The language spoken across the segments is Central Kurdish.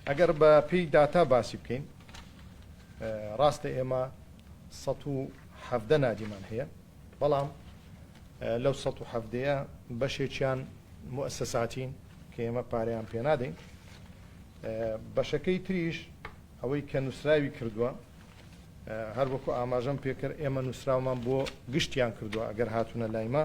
ئەگەر بە پێی داتا باسی بکەین ڕاستە ئێمە سەد و حەڤدە نادیمان هەیە بەڵام لەو سەد و حەڤدەیە بەشێکیان موسەساتین کە ئێمە پارەیان پێنادەین بەشەکەی تریش ئەوەی کە نووسراوی کردووە هەر وەکو ئاماژەم پێکرد ئێمە نووسراومان بۆ گشتیان کردووە ئەگەر هاتوونە لایمە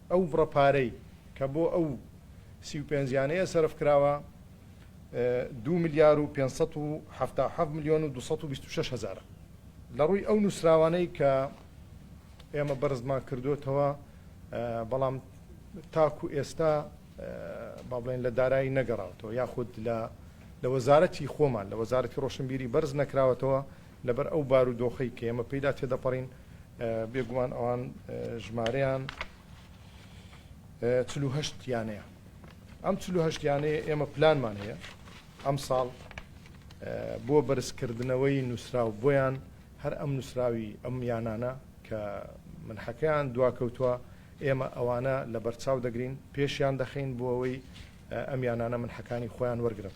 ئەو بڕە پارەی کە بۆ ئەو سی و پێنج یانەیە سەرف کراوە دوو ملیار و پێنج سەد و حەفتا و حەفت ملیۆن و دوو سەد و بیست و شەش هەزارە. لە ڕووی ئەو نووسراوانەی کە ئێمە بەرزمان کردووەتەوە، بەڵام تاکوو ئێستا با بڵێین لە دارایی نەگەڕاوەتەوە یاخود لە وەزارەتی خۆمان، لە وەزارەتی ڕۆشنبیری بەرز نەکراوەتەوە، لەبەر ئەو بارو دۆخەی کە ئێمە پێیدا تێدەپەڕین بێگومان ئەوان ژمارەیان چل و هەشت یانەیە ئەم چل و هەشت یانەیە ئێمە پلانمان هەیە ئەم ساڵ بۆ بەرزکردنەوەی نووسراو بۆیان هەر ئەم نووسراوی ئەم یانانە کە من حەکەیان دواکەوتووە ئێمە ئەوانە لە بەرچاو دەگرین پێشیان دەخین بۆ ئەوەی ئەم یانانە من حەکانی خۆیان وەرگن